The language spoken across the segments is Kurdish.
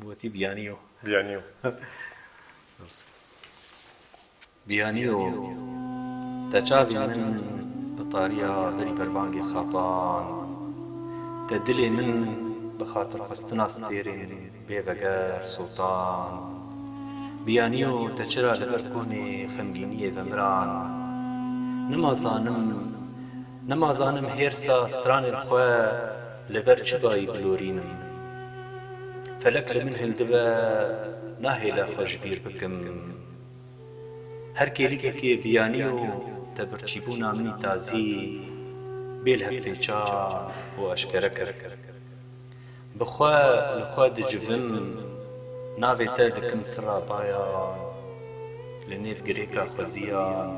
Gotî biyaniyo. Biyaniyo. Biyaniyo te çavê min bi tariya berî berbangê xapan te dilê min bi xatirxwestina stêrên bê veger sotan biyaniyo te çira li ber konê xemgîniyê vemiran nima zanim nima zanim hêrsa stranên xwe Li ber çi dayî bilorînim? Felek li min hildibe nahêle xwe ji bîr bikim. Her kêlikekê biyanî û tebirçîbûna min î tazî bê li hev pêçan û eşkere kir. Bi xwe li xwe dicivim, navê te dikim sira bayan, li nêv girêka xweziyan,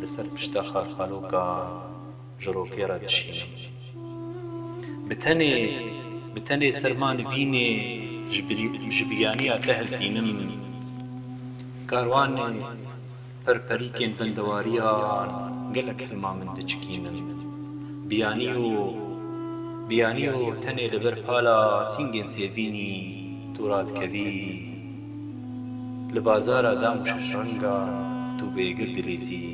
li ser pişta xalxalokan. ji rokê re dişînim. Bi tenê, bi tenê serma nivînê ji birî, ji biyaniya te hiltînim. Karwanê perperîkên bendewariyan gelek hilma min diçikînin. Biyaniyo, biyaniyo tenê li ber pala sîngên sêvînî tu radikevî. Li bazara dam û şeşrengan tu bêgir dilîzî.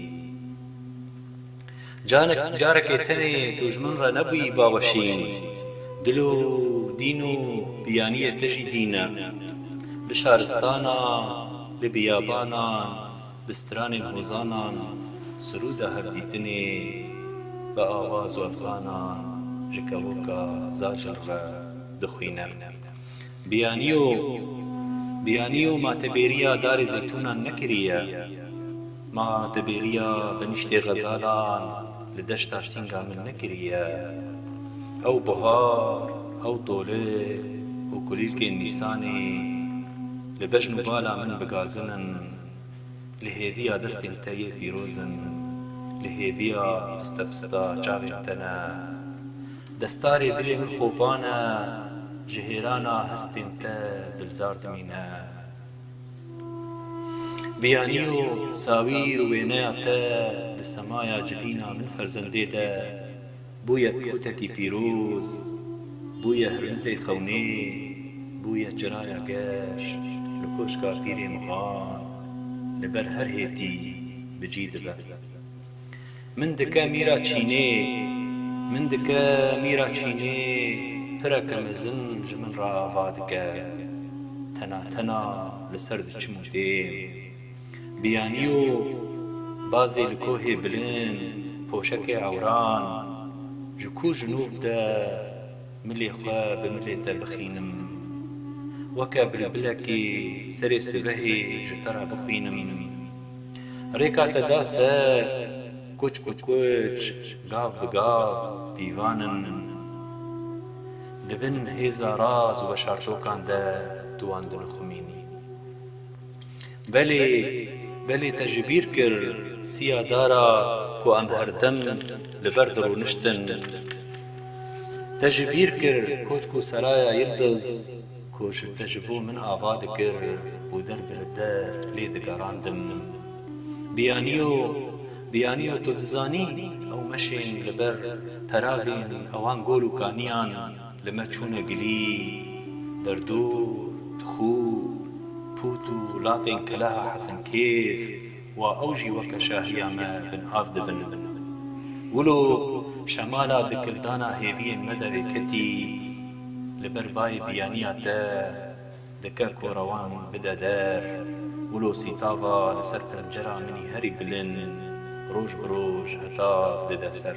Canek carekê tenê tu ji min re nebûyî baweşîn. Dil û dîn û biyaniyê te jî dîn e. Li şaristana, li biyabanan, bi stranên hozanan sirûda hevdîtinê bi awazo efanan ji kevoka zacil re dixwîne. Biyaniyo, biyaniyo ma te bêriya darê zeytûnan nekiriye. Ma te bêriya benîştê xezalan li deşta sînga min nekiriye. Ew buhar, ew tole û kulîlkên nîsanê li bejn û bala min bigazin in. Li hêviya destên te yê pîroz in, li hêviya pista pista çavên te ne. Destarê dilê min xopan e, ji hêrana hestên te dilzar dimîne. Biyanî û sawîr û wêneya te di semaya civîna min ferzendê de. Bûye pixûtekî pîroz, bûye hirmizê xewnê, bûye çiraya geş li koşka pîrê mixan, li ber her hêtî bi cî dibe. Min dike mîra çînê, min dike mîra çînê, pireke mezin ji min re ava dike. Tena tena li ser diçim û dêm. Biyanî û bazê li kohê bilind, poşekê ewran, ji ku ji nûv de milê xwe bi milê te bixînim, weke bilbilekê serê sibehê ji te re bixwînim, rêka te da ser, kuç bi kuç, gav bi gav pîvan in. Di bin hêza raz û veşartokan de tu wan dinixumînî. Belê, belê te ji bîr kir siya dara ku em herdim li ber dirûniştin. Te ji bîr kir koçk û seraya Yildiz ku ji te ji bo min ava dikir û der bi li der lê digerandim. Biyaniyo, biyaniyo tu dizanî ew meşên li ber peravên ewan gol û kaniyan, Li me çûne gilî, derdor, tixûr, pût û latên keleha Hesenkêf wa ew jî weke şahiya me binav dibin. Wilo şemala dikildana hêviyên me derê ketî, li ber bayê biyaniya te dike ku rewan bide der, wilo sîtava li ser pencera min î herî bilind roj bi roj hetav dide ser.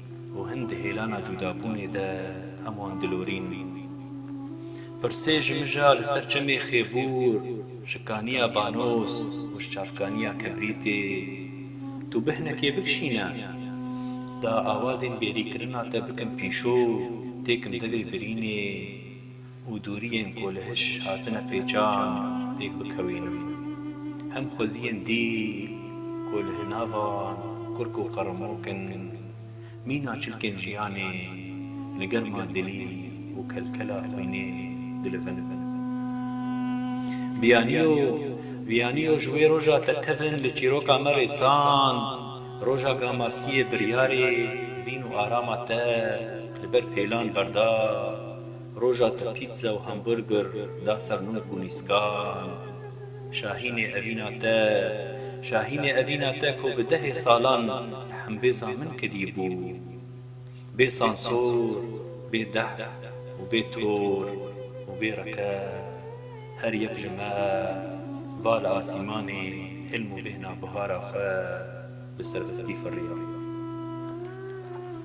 Û hin di hêlana cûdabûnê de heman dilorîn. Pirsê ji mija li ser çemê Xêbûr, şikaniya banos û ji çavkaniya kibrîtê, tu bihnekê bikişîne. Da awazên bêrîkirina te bikin pîşo, têkim devê birînê. û doriyên ku li hiş hatine pêçan pêk bikewînim. Hem xweziyên dîl ku li hinavan kurk û qeremok in, mîna çilkên jiyanê li germa dilî û kelkela xwînê dilivin. Biyaniyo, Biyaniyo ji wê roja te tevin li çîroka me rêsand, roja Gamasiyê biryarê vîn û arama te li ber pêlan berda. Roja te pîtze û hamburger da ser nûk û nîskan. Şahînê evîna te, şahînê evîna te ku bi dehê salan li hembêza min kedî bû. Bê sansor, bê dehf û bê tor û bê reke. Her yek ji me va li asîmanê hilm û bêhna bihara xwe bi serbestî firiya.